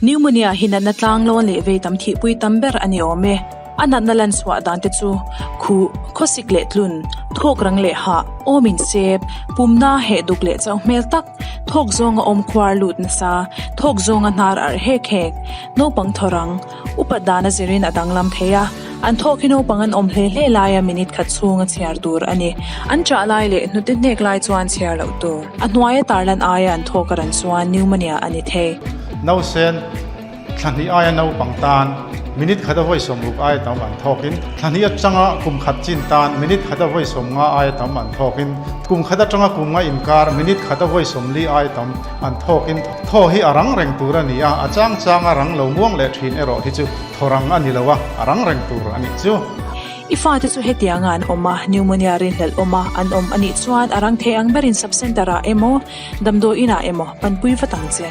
Pneumonia hi natna tlanglawn leh veitam thihpui tam ber a ni awm e. A natna lanchhuah dante chu khuh, khawsik leh tlun, thawk rang leh hah, awm insep, pumna heh duk leh chauh hmel tak, thawk zawnga awm khuar lut nasa, thawk zawnga hnar arh hek hek, naupang thawrang, Upat dana zirin a danglam thei a, an thawk hi naupang an awm hle hle laia minute khat chhunga chhiar tur a ni. An chah lai leh hnute hnek lai chuan chhiar loh tur. A hnuaia tarlan aia an thawk a ran chuan pneumonia a ni thei. Nausen, thla hnih aia naupang tan minute khata vawi sawm ruk aia tam an thawkin, thla hnih atanga kum khat chin tan minute khata vawi sawm nga aia tam an thawkin, kum khat atanga kum nga inkar minute khata vawi sawm li aia tam, An thawkin thaw hi a rang reng tur a ni a, a chang changa rang lo muang leh ṭhin erawh hi chu thaw rang a ni lo a, a rang reng tur a nih chu. I fate chu hetianga an awm a, pneumonia rinhlelh awma an awm a nih chuan a rang thei ang berin subcentre-ah emaw, damdawiinah emaw panpui vat ang che.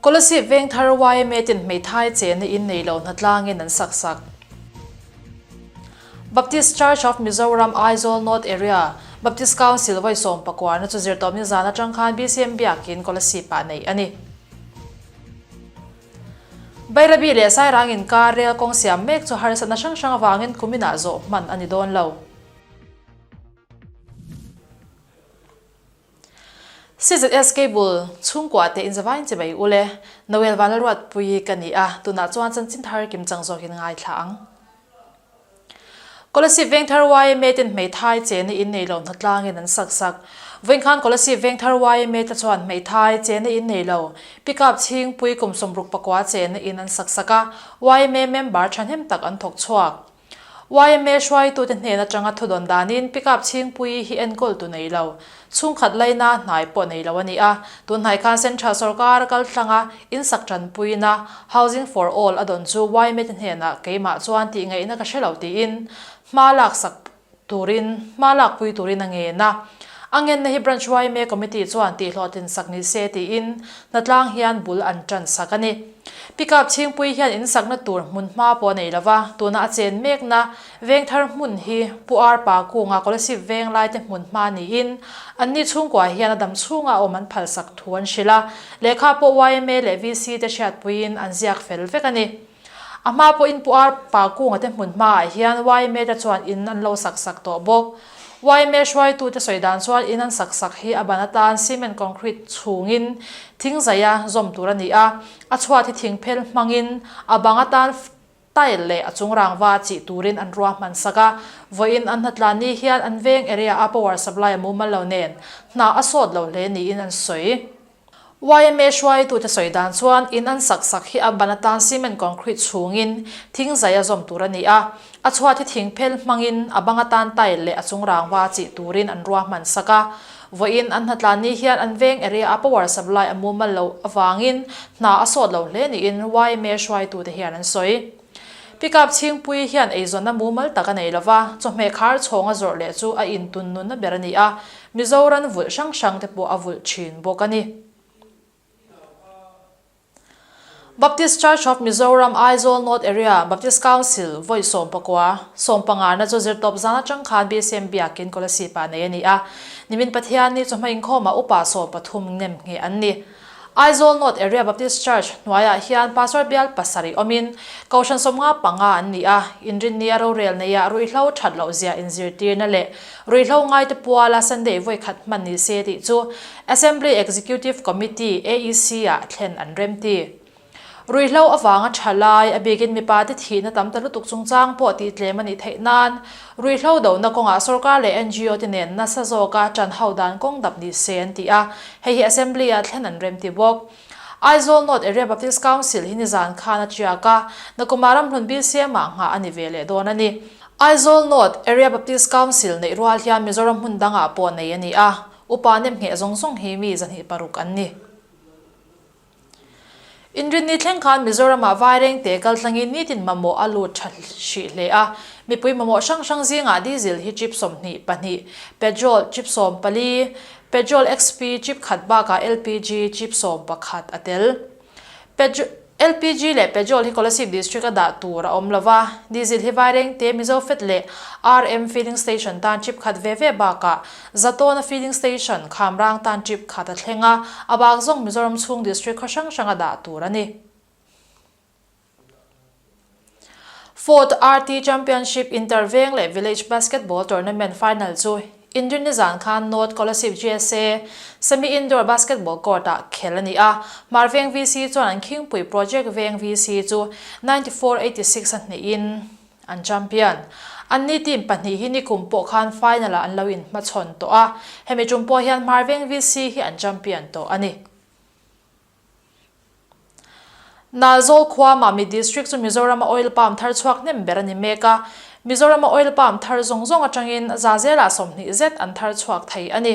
Scholarship veng thar YMA ten hmeithai chen a in nei lo hna tlangin an sak sak. Baptist Church of Mizoram Aizawl North Area Baptist Council vawi sawm pakuarna chu zirtawp nizan atang khan BCM biakin scholarship ah neih a ni. Bairabi leh Sairang inkar rel kawng siam mek chu harsatna hrang hrang avangin kumin ah zawh hman a ni dawn lo. CZS Cable chhungkua te in zavain che mai ule Noel Vanaruatpui ka ni a, tunah chuan Chanchin Thar Kim Chang zawk in ngai thla ang. Kolasip Vengthar yma ten hmeithai che na in nei lo hna tlang in an sak sak. Vawinkhân Kolasip Vengthar yma te chuan hmeithai che na in nei lo Pickup Chhingpui kum sawmruk pakua che na in an sak sak a, yma member thahnem tak an thawk chhuak. Yma hruaitute hnên aṭanga thudawn dânin pickup chhingpui hi enkawl tu nei lo. Chhungkhat laina hnai pawh nei lo a ni a. Tunhnai khan Central sawrkara kaltlanga insak ṭanpuina Housing for All a dawn chu Ymate hnênah keimah chuan tihngeihna ka hre lo tiin hma lâksak turin hma lakpui turin a ngen a. A ngenna hi Branch YMA Committee chuan tihhlawh tlinsak ni se tiin Hnatlâng hian bul an tansak a ni. Pickup chhingpui hian insakna tur hmunhma pawh a nei lo va, tuna a chen mekna veng thar hmun hi Pu Ar Pa Kunga Kolasib veng laite hmunhma niin anni chhungkua hian a dam chhunga awm an phalsak thu an hrilh a. Lehkha pawh YMA leh VC-te hriatpuiin an ziak fel vek a ni. A hma pawhin Pu Ar Pa Kunga te hmun hmaah hian YMA te chuan in an lo sak sak tawh bawk. YMA hruaitu te sawi dan chuan in an sak sak hi a ban atan cement concrete chhungin thing zaia zawm tur a ni a. A chhuat hi thing phel hmangin a bang atan tile leh a chung rangva chih turin an rua hman sak a. Vawiin an hnatlan ni hian an veng area a power supply a mumal lo nen hna a sawt lo hle niin an sawi. YMHY tute sawi dan chuan in an sak sak hi a ban atan cement concrete chhungin thing zai a zawm tur a ni a, a chhuat hi thing phel hmangin a bang atan tile leh a chung rangva chih turin an rua hman sak a, vawiin an hnatla ni hian an veng area a power supply a mumal loh avangin hna a sawt lo hle niin YMHY tute hian an sawi. Pickup chhingpui hian eizawnna mumal tak a nei lo va, chawhmeh khar chhawng a zawrh leh chu a intun nunna ber a ni a, Mizo ranvulh hrang hrang te pawh a vulh thin bawk a ni. Baptist Church of Mizoram, Aizawl North Area, Baptist Council, vawi sawm pakua, sawm pangngarna chu zirtawp zan atang khan BCM biakin Kawlasipa nei a ni a, Nimin Pathianni chawhmeh inkhawmah upa sawm pathum nem ngheh an ni. Aizawl North Area Baptist Church hnuaiah hian Pastor bial pasarih awmin, Kohhran sawmnga panga an ni a, inrinnia rorel neia ruihhlo that loh zia inzirtirna leh ruihhlo ngaite puala Sunday vawikhat hman ni se tih chu Assembly Executive Committee, AEC, ah thlen an remti. Ruihhlo avanga tha lai, a bikin mipa te thihna tam ta lutuk chungchang pawh tih tlem a nih theih nan, ruihhlo dohna kawngah sorkar leh NGO te nen nasa zawka tan ho dan kawng dap ni se an ti a, hei hi Assembly-ah thlen an rem ti bawk. Aizawl North Area Baptist Council hi nizan khan a tiak a, Nakuma ramhlun Bisiama nghah a ni ve leh dawn a ni. Aizawl North Area Baptist Council neih rual hian Mizoram hmun dangah pawh nei a ni a, upa nepngheh zawng zawng hi mi zahnih paruk an ni. Inrinni thleng khan Mizoramah vaireng te kal tlangin nitin mamawh a lut tha hrih hle a. Mipui mamawh hrang hrang zingah diesel hi chip sawmhnih, pahnih, petrol, chip sawm pali, petrol XP, chip khat bakah LPG, chip sawm pakhat, a tel. Petr, LPG leh petrol hi Kolasib District-a dah tur a awm lova, diesel hi vaireng te Mizofet leh RM Filling Station tan chip khat ve ve bakah Zatawna Filling Station Khamrang tan tip khat a thleng a, a bak zawng Mizoram chhung district khaw hrang hranga dah tur a ni. Fourth RT Championship Interveng leh Village Basketball Tournament Final chu Indrinizan khan North Kolasib GSA Semi Indoor Basketball Court ah khel a ni a, Marveng VC chuan an khingpui Project Veng VC chu ninety four eighty six a hneih in, an champion an ni team pahnih hi nikum pawh khan final ah an lo in hmachhawn tawh a, hemi tum pawh hian Hmarveng VC hi an champion tawh a ni. Nalzawl khua Mami District chu Mizorama Oil Palm thar chhuak hnem ber a ni mek a, Mizorama Oil Palm thar zawng zawng atangin za zela sawmhnih zet an thar chhuak thei a ni.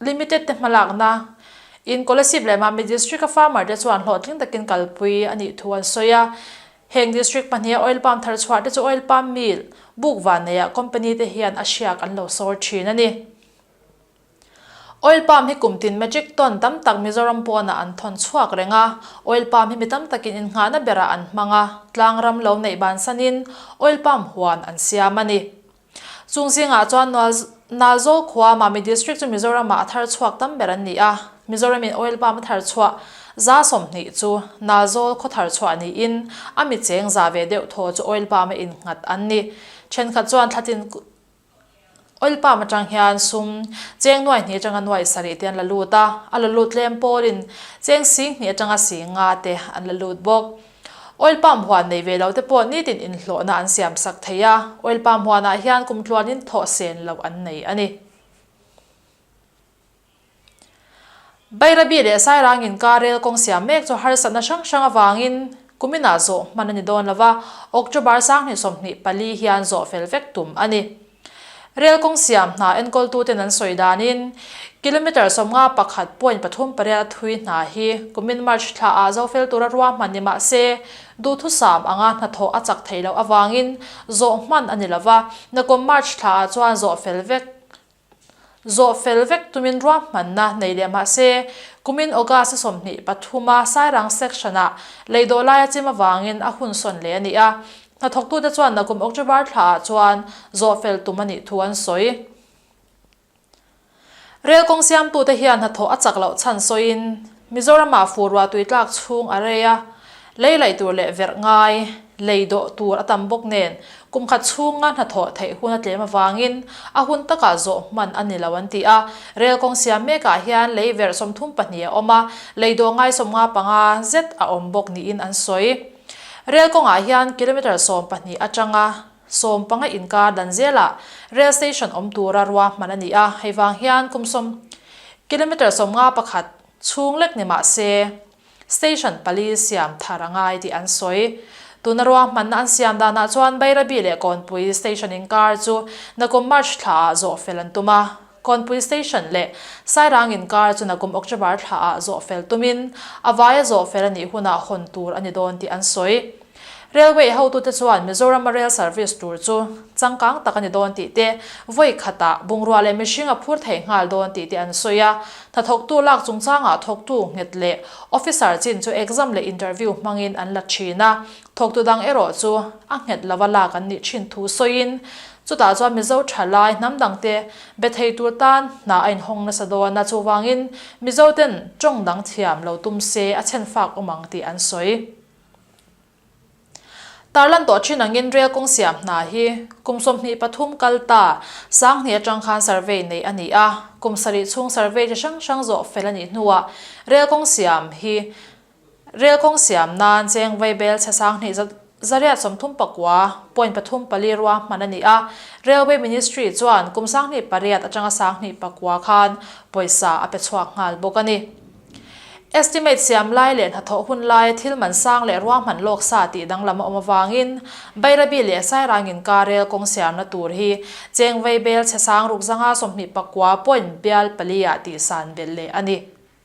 Limited te hmalakna in Kolasib leh Mamit District a farmer te chuan hlawhtling takin kalpui a nih thu an sawi a. Heng District pahnih a oil palm thar chhuah te chu oil palm mill buk van nei ah company te hian a hriak an lo sawr thin a ni. Oil palm hi kum tin metric ton tam tak Mizoram pawn ah an thawn chhuak reng a. Oil palm hi mi tam takin in nghahna ber ah an hmang a, tlang ram lo neih bansan in oil palm huan an siam a ni. Chung zingah chuan Nual Nal Zawl khua Mami District chu Mizoramah a thar chhuak tam ber an ni a. Mizoramin oil pump a thar chhuah za sawm hnih chu Nal Zawl khaw thar chhuah niin a mi cheng za ve deuh thaw chu oil pump a in nghat an ni. Thenkhat chuan thlatin oil pump atang hian sum cheng nuai hnih atanga nuai sa rih te an la lut a. A la lut tlem pawlin cheng sing hnih atanga sing nga te an la lut bawk. Oil pump huan neih ve lote pawh nitin inhlawhna an siam sak thei a, oil pump huanah hian kum tluanin thawh sen loh an nei a ni. Bairabi leh Sairang inkar rel kawng siam mek chu harsatna hrang hrang avangin kumin ah zawh hman a ni dawn lova, October sang hnih sawm hnih pali hian zawh fel vek tum a ni. Rail kawng siam hna enkawltuten an sawi danin kilometre sawmnga pakhat point pathum pariat a thui hna hi kumin March thla ah zofel tura ruahman ni mah se duhthusam anga hnathawh a chak theih loh avangin zawh hman a ni lova nakum March thla ah chuan zawhfel vek Zawh fel vek tumin ruahmanna nei leh mahse, kumin August a sawmhnih pathuma Sairang section ah Leidawhlai a chim avangin a hun sawn leh a ni a. Hnathawktute chuan a kum October thla ah chuan zawh fel tum a nih thu an sawi. Rel kawng siamtute hian hnathawh a chak loh chhan sawiin, Mizoramah fu ruahtui tlak chhung a rei a, lei laih tur leh verh ngai lei dawh tur a tam bawk nen kum khat chhunga hnathawh theih hun a tlem avangin a hun takah zawh hman a ni lo an ti a. Rel kawng siam mekah hian lei verh sawmthum pahnih a awm a, lei dawh ngai sawm nga panga zet a awm bawk niin an sawi. Rel kawngah hian kilometre sawm pahnih atanga sawm panga inkar dan zela rail station awm tura rua hman a ni a, hei vang hian kum sawm kilometre sawm nga pakhat chhung lek ni mah se station pali siam thar a ngai tih an sawi. Tuna rua hmanna an siam danah chuan Bairabi leh Kawnpui station inkar chu Nakum March thlaah zawh fel an tum a, Khawnpui station leh Sairang inkar chu Nakum Okchavar thla ah zawh fel tum in a vai a zawh fel a nih hun ah hawn tur a ni dawn tih an sawi. Railway ho tu te chuan Mizoram a rail service tur chu changkang tak a ni dawn tih te, vawi khat ah bungrua leh mihring a phur thei nghal dawn tih te an sawi a. Hnathawk tu lak chungchang ah thawk tu nghet leh officer chin chu exam leh interview hmang in an la thin a, Thawktu dang erawh chu a nghet lova lak an nih thin thu sawiin, chutah chuan Mizo tha lai hnam dangte be thei tur tan hna a inhawng nasa dawn a, chuvangin Mizo ten tawng dang thiam lo tum se a chhen fak awm ang tih an sawi tar lan tawh thin angin rel kawng siam hna hi kum sawmhnih pathum kal ta sang hnih atang khan survey neih a ni a, kum sarih chhung survey chi hrang hrang zawh fel a nih hnuah rel kawng siam hi Rel kawng siam nan cheng vei bel chhasang hnih zat zariat sawmthum pakua point pathum pali rua hman a ni a, Railway Ministry chuan kum sang hnih pariat atanga sang hnih pakua khan pawisa a pe chhuak nghal bawk a ni. Estimate siam lai leh hnathawh hun laia thil man sang leh rua hman lawk sa tih danglam a awm avangin Bairabi leh Sairang inka rel kawng siamna tur hi cheng vei bel chhasang ruk zanga sawmhnih pakua point bial paliah tihsan belh leh a ni.